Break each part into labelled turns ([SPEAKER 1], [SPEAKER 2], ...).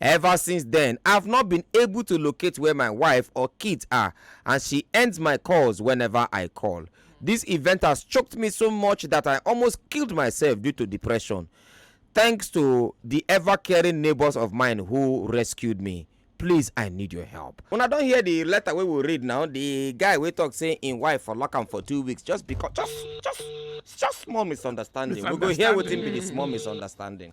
[SPEAKER 1] Ever since then, I've not been able to locate where my wife or kids are and she ends my calls whenever I call. This event has choked me so much that I almost killed myself due to depression. Thanks to the ever caring neighbors of mine who rescued me. please i need your help una don hear the letter wey we read now the guy wey talk say im wife for lock am for two weeks just because just just just small misunderstanding we go hear wetin be the small misunderstanding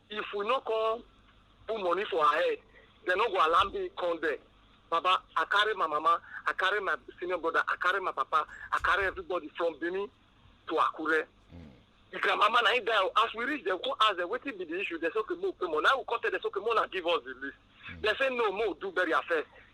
[SPEAKER 1] if we no come put money for her head dem no go allow me come there baba i carry my mama i carry my senior brother i carry my papa i carry everybody from benin to akure the grandmama na him die o as we reach dem come ask dem wetin be the issue dem say okay mo pay money na we come tell dem say okay mo na give us the list dem say no mo do burial first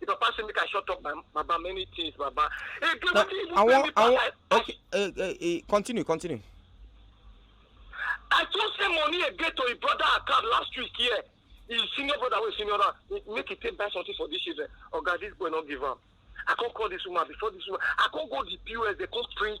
[SPEAKER 1] The papa say make I shut up my baba many things baba. Hey, get no, wetin even pay me pass like. Okay, uh, uh, uh, continue continue. I just send money again to his brother account last week here. Yeah his senior brother wey senior am make he take buy something for this children oga this boy no give am i come call this woman before this woman i come go the pos dey come print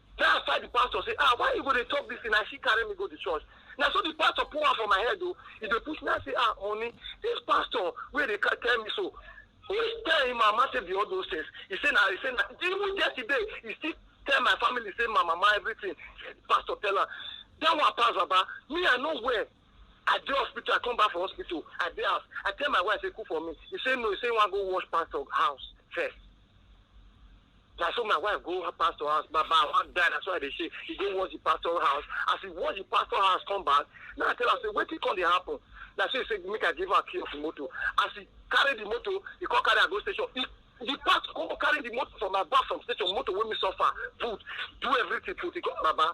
[SPEAKER 1] Then I fight the pastor say, ah, why you go dey talk this thing? I see carry me go the church. Now so the pastor pour am for my head though. He dey push me. I say, ah, honey, this pastor wey dey ca- tell me so. He tell him mama say be all those things. He say na he say na even yesterday he still tell my family say my mama everything. Pastor tell am. That one pass baba. Me I no well. I dey hospital, I come back from hospital, I dey house. I tell my wife say cook for me. He say no, he say he wan go wash pastor house first. Na so my wife go her pastor house, Baba I wan die, na so I dey shake. He go wash the pastor house. As he wash the pastor house come back, na I tell am say wetin come dey happen? Na so he say make I give am key of the motor. As he carry the motor, he come carry am go station. He the pastor come carry the motor from my back from station, motor wey me suffer, put, do everything put. He come Baba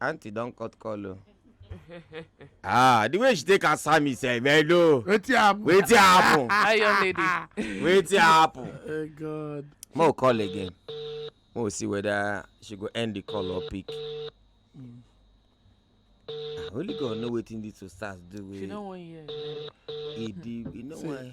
[SPEAKER 1] aunty don cut call o. ah the way she take answer me sef hello wetin happen wetin happen iron lady wetin happen oh god mo oh, call again mo oh, see whether she go end the call or pick mm. only god know wetin these two stars do wey she no wan hear e di e no wan.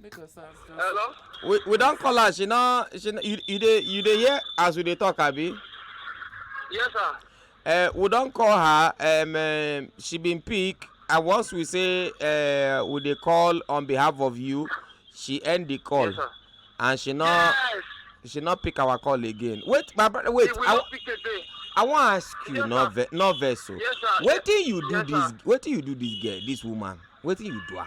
[SPEAKER 1] make us ask just. hello. we we don call her she no she no you you dey you dey hear as we dey talk abi. yes sir. Uh, we don call her um, uh, she bin pick and once we say uh, we dey call on behalf of you she end the call yes, and she no yes. she no pick our call again wait my brother wait i i wan ask you yes, no ve no vex o oh. yes, wetin you do yes, this wetin you do this girl this woman wetin you do am.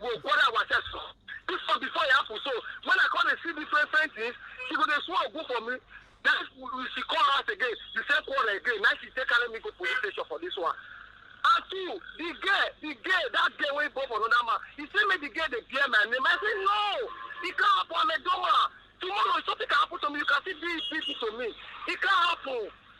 [SPEAKER 1] go bother ourselves for this one before e happen so when i come dey see different different things she go dey swear ogun for me then she call us again the same quarrel again na she take carry me go police station for this one and two the girl the girl that girl wey born for another man he say make the girl dey bear my name i say no e can happen i'm a dumb man tomorrow if something can happen to me you can still do it to me e can happen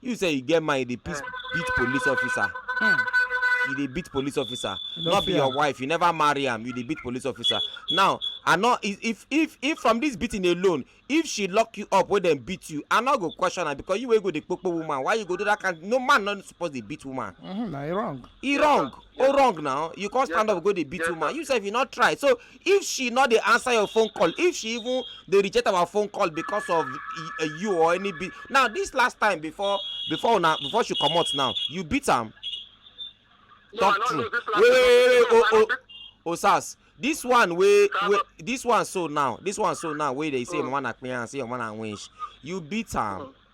[SPEAKER 1] you say you get mind you dey beat beat police officer Hmm. you dey beat police officer You no don't be fear your am. wife you never marry am you dey beat police officer now i no if if if if from this beating alone if she lock you up wey dem beat you i no go question am because you wey go dey kpokpo woman why you go do that kind no man no suppose dey beat woman Mhm, na e wrong e wrong o wrong now you come stand up go dey beat woman you sef you no try so if she no dey answer your phone call if she even dey reject our phone call because of eh, you or any be now this last time before before una before she comot now you beat am no, talk true wait wait wait oh oh oh sars this one wey wey this one so now this one so now wey dey say mama na clearance say mama na winch you beat am. Mm -hmm.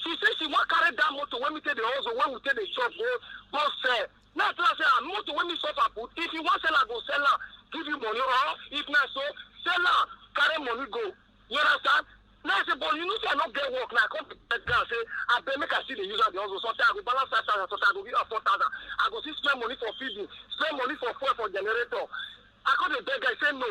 [SPEAKER 1] she say she wan carry that motor wey me take dey hustle wey we take dey chop go go sell now tell her say ah motor wey me suffer put if you wan sell am go sell am give you money or if na so sell am carry money go you understand now say but you know say i no get work now i come beg am say abeg make i still dey use am dey hustle sometimes i go balance five thousand sometimes i go give am four thousand i go still spend money for feeding spend money for fuel for generator i come dey beg am he say no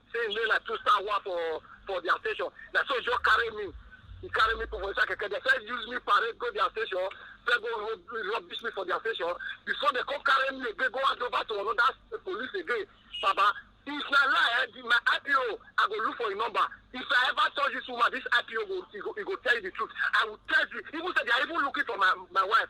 [SPEAKER 1] say im dey like two star one for for their station na so he just carry me he carry me put for inside keke they first use me parade go their station first go rub rubbish me for their station before they come carry me again go hand over to another police again baba if na lie eh, the- my ipo i go look for im number if i ever touch this woman this ipo go he go he go tell you the truth i will tell you even say they are even looking for my my wife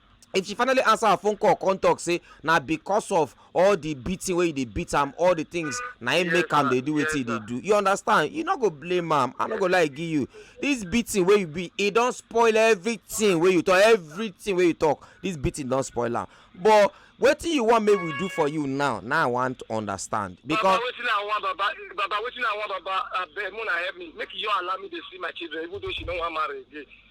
[SPEAKER 1] if she finally answer her phone call come talk say na because of all the beating wey you dey beat am all the things na him make am dey do wetin he dey do you understand you no go blame am i no go lie give you this beating wey you be e don spoil everything wey you talk everything wey you talk this beating don spoil am but wetin you wan make we do for you now na i wan understand because. baba wetin i wan baba baba wetin i wan baba abeg muna help me make you allow me dey see my children even though she no wan marry again.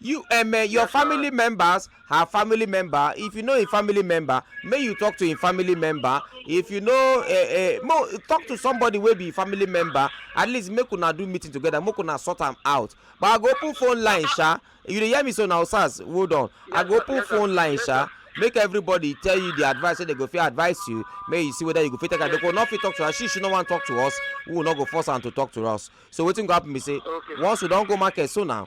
[SPEAKER 1] you um, eh, your family members her family member if you know a family member may you talk to a family member if you know a, uh, uh, talk to somebody wey be family member at least make una do meeting together make una sort am out but i go open phone line sha you dey hear me so now sars hold on i go open phone line sha make everybody tell you the advice wey so they go fit advise you make you see whether you go fit take am they go no fit talk to her she she no wan talk to us we no go force am to talk to us so wetin go happen be say okay. once we don go market so now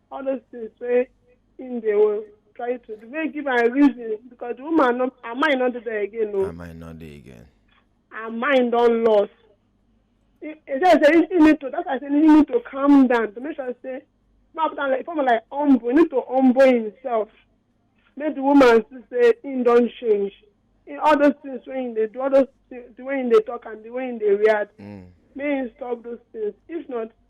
[SPEAKER 1] all those things wey him dey wan try to do wey give am reason because the woman no her mind no dey there again o. I might not dey again. her mind don loss e e say say he need to that's why i say he need to calm down to make sure say ma put am like form of like humble he need to humble himself make the woman see say him don change he, all those things wey him dey do all those things the way him dey talk and the way him dey react Mm. make him stop those things if not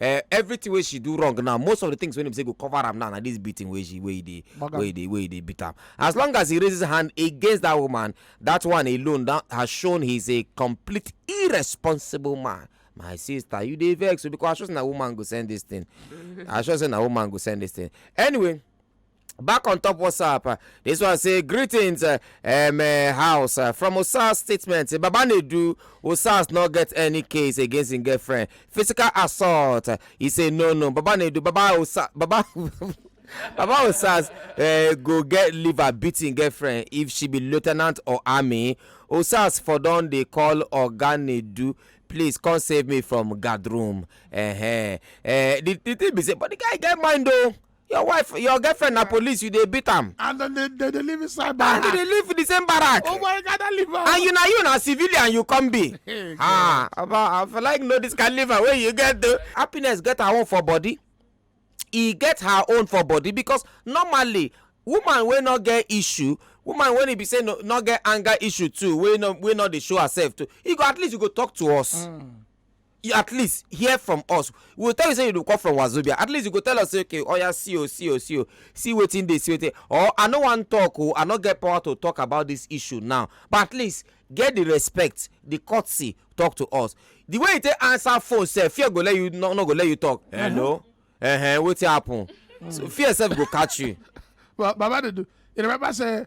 [SPEAKER 1] eh, everything wey she do wrong now most of the things wey dem say go cover am now na this beating wey she wey dey Bag am. wey dey wey dey beat am as long as he raises hand against that woman that one alone that has shown he is a complete irresponsible man my sister you dey vex o because i sure say na woman go send this thing i sure say na woman go send this thing anyway back on top whatsapp uh, this one say greetings uh, um, uh, house uh, from osas statement baba nedu osas no get any case against him girlfriend physical assault uh, he say no no baba nedu baba osas baba baba osas uh, go get liver beating girlfriend if she be lieutenant or army osas for don dey call oga nedu please come save me from guard room uh -huh. uh, the, the thing be say but the guy get mind o. Oh. your wife your girlfriend na police you dey beat am and then they they dey live inside and barrack you dey live for the same barrack oh my god i live am and you na you na civilian you come be Hey, ah oba i for like know this kind liver wey you get though happiness get her own for body e get her own for body because normally woman wey no get issue woman wey e be say no no get anger issue too wey no wey no dey show herself too e go at least you go talk to us. Mm. you at least hear from us we go tell you say you dey come from wazobia at least you go tell us say okay oya see o see o see o see wetin dey see wetin or i no wan talk o i no get power to talk about this issue now but at least get the respect the courtesy talk to us the way you take answer phone sef fear go let you no, no go let you talk hello uh -huh, wetin happen so fear sef go catch you. Ba- Baba Dudu, you remember say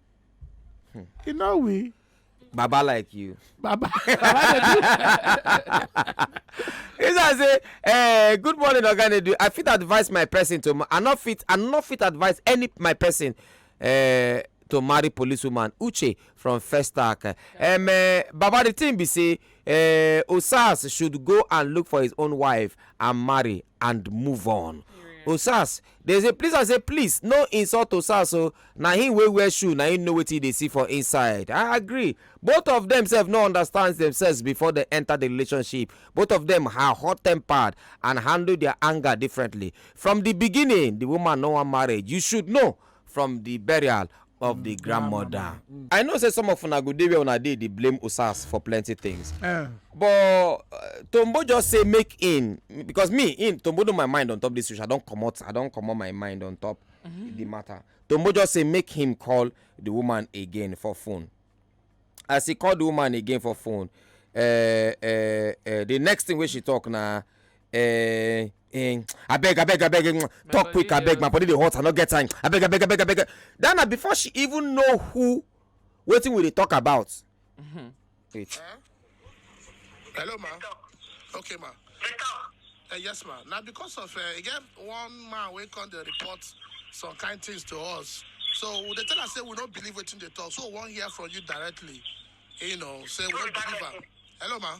[SPEAKER 1] Hmm. You know we. Baba like you. Baba. It's as say, eh, good morning, Oganedu. I fit advise my person to. I not fit. I not fit advise any my person. Eh, to marry policewoman uche from festac um, uh, baba the thing be say uh, osas should go and look for his own wife and marry and move on yeah. osas Dem say please I say please no insult to sars o na him wey wear shoe na him know wetin he dey see for inside I agree both of them sef no understand themselves before dem enter the relationship both of them are hot tempered and handle their anger differently from the beginning the woman no wan marriage you should know from the burial of di grandmother. i know say some of una go dey where una dey dey blame usas for plenty things eh. but uh, tombo just say make in because me in tombo know my mind on top this issue i don comot i don comot my mind on top mm-hmm. the matter tombo just say make him call the woman again for phone as he call the woman again for phone uh, uh, uh, the next thing wey she talk na uh, Eh, abeg abeg abeg mm, talk quick abeg my body dey hot i no get time abeg abeg abeg abeg that na before she even know who wetin we dey talk about. Mm -hmm. wait. Huh? hello ma okay ma uh, yes ma na because of uh, e get one man wey come dey report some kind things to us so we dey tell am say we no believe wetin dey talk so we wan hear from you directly you know say we no believe am hello ma.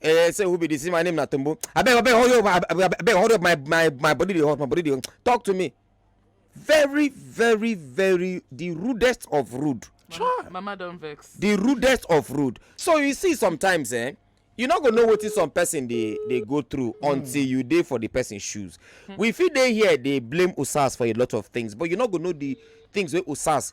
[SPEAKER 1] Eh, say who be this? My name na Tumbu. I beg, I beg, hurry up, I beg, I beg, hurry up. My my my body dey hot, my body dey hot. Talk to me. Very, very, very the rudest of rude. Mama, mama don vex. The rudest of rude. So you see sometimes, eh? you no go know wetin some person dey dey go through mm. until you dey for the person shoes mm. we fit dey here dey blame usas for a lot of things but you no go know the things wey usas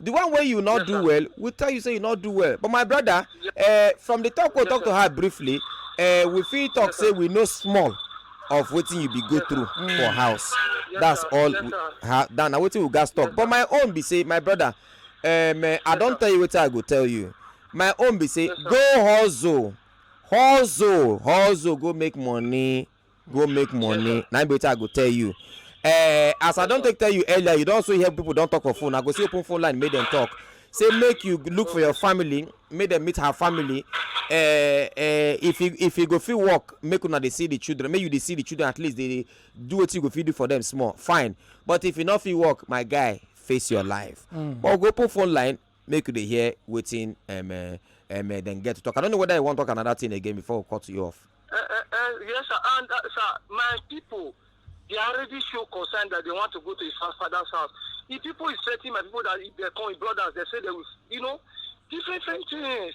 [SPEAKER 1] the one wey you no yes, do sir. well we tell you say you no do well but my brother yes. uh, from the talk we yes, talk sir. to her briefly uh, we fit talk yes, say sir. we know small of wetin you be go yes, through mm. for house yes, that's sir. all yes, we, ha, that na wetin we gats talk yes, but my own be say my brother um, uh, yes, i don tell you wetin i go tell you my own be say yes, go hustle hustle hustle go make money go make money na be wetin i go tell you uh, as i don take tell you earlier you don also hear people don talk for phone i go see open phone line make dem talk say make you look for your family make dem meet her family uh, uh, if you if you go fit work make una dey see the children make you dey see the children at least dey do wetin you go fit do for them small fine but if you no fit work my guy face your life mm. but go open phone line make you dey hear wetin um, uh, um, uh, dem get to talk i don't know whether you wan talk another thing again before we cut you off. Uh, uh, uh, yes sir and uh, sir my people they already show concern that they want to go to his father's house the people is threatening my people that if they come his brothers they say they will you know different different things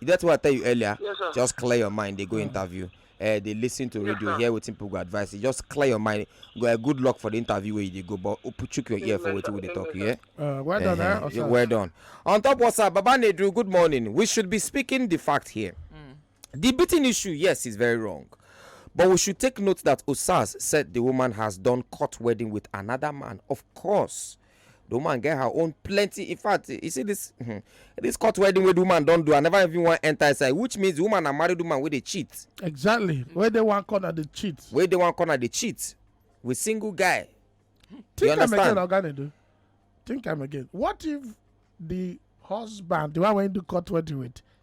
[SPEAKER 1] you get what i tell you earlier yes, sir. just clear your mind dey go mm. interview uh, dey lis ten to yes, radio sir. hear wetin people go advise you just clear your mind go uh, good luck for the interview wey you dey go but chook your ear for wetin we dey talk yeah. Uh, well done uh, eh? well done on top whatsapp baba nedu good morning we should be speaking the fact here mm. the beating issue yes is very wrong but we should take note that osas said the woman has done court wedding with another man of course the woman get her own plenty in fact you see this hmm, this court wedding wey the woman don do i never even wan enter inside which means the woman na married woman wey dey cheat. exactly wey dey one corner dey cheat. wey dey one corner dey cheat with single guy. think am again oga nedu think am again what if the husband the one wey do court wedding with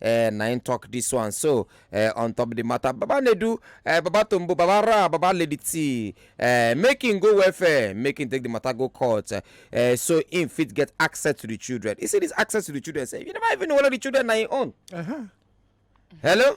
[SPEAKER 1] eh, na im talk this one so eh, on top the matter baba nedu eh, baba tombo baba ra baba lady t eh, make him go welfare make him take the matter go court eh, so him fit get access to the children he say this access to the children say you never even know whether the children na him own. Uh -huh. hello.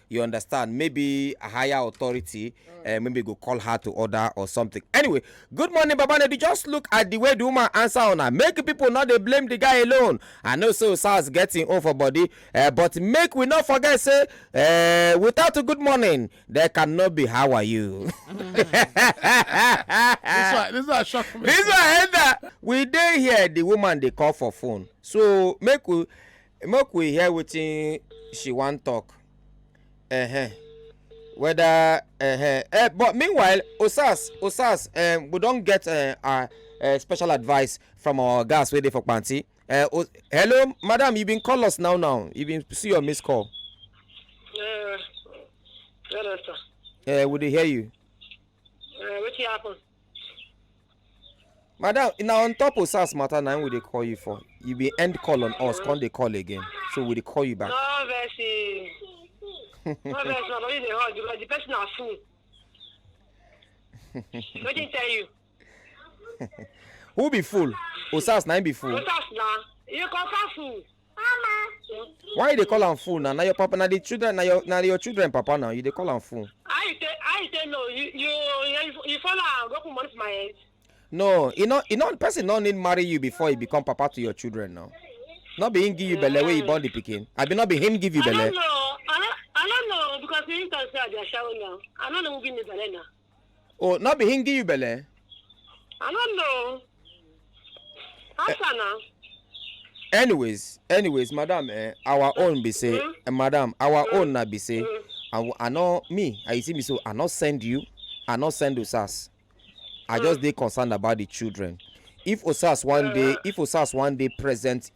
[SPEAKER 1] you understand maybe a higher authority uh, maybe go call her to order or something anyway good morning baba nedi just look at the way the woman answer on her make people not they blame the guy alone i know so sars getting off her body uh, but make we not forget say uh, without a good morning there cannot be how are you this one this one shock me this one we day here the woman they call for phone so make we make we hear wetin she wan talk uh-huh. whether uh-huh. uh, but meanwhile osas osas um, we don get uh, our uh, special advice from our gas wey dey for panti uh, oh, hello madam you bin call us now now you bin see your missed call. Uh, hello, sir. Uh, we dey hear you. Uh, wetin happen. madam na on top of sars matter na we dey call you for you be end call on us come dey call again so we dey call you back. no vex no vex na body dey hot because the person na fool wetin tell you. who be fool osas na him be fool. osas na you confam fool. why you dey call am fool na na your papa na the children na your na your children papa na you dey call am fool. i say i say no you you you follow am go put money for my head. no e no e no person no need marry you before he become papa to your children now no be him give you belle wey you born the pikin abi no be him give you belle. i no know i no know because he talk say i dey ashawo now i no know who give me belle now. oh no be him give you belle. i don't know how eh. far na. anyways anyways madam eh, our mm. own be say mm. eh, madam our mm. own na be say mm. i i no me i see me so i no send you i no send osas i mm. just dey concerned about the children if osas one day if osas one day present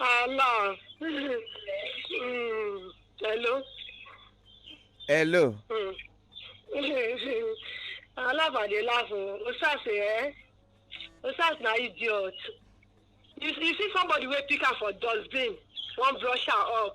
[SPEAKER 1] Allah. Mm. Hello. hello Mm. Alabade laugh o. Osas eh? Osas na idiot. You, you see somebody wey pick am for dustbin, wan brush am up.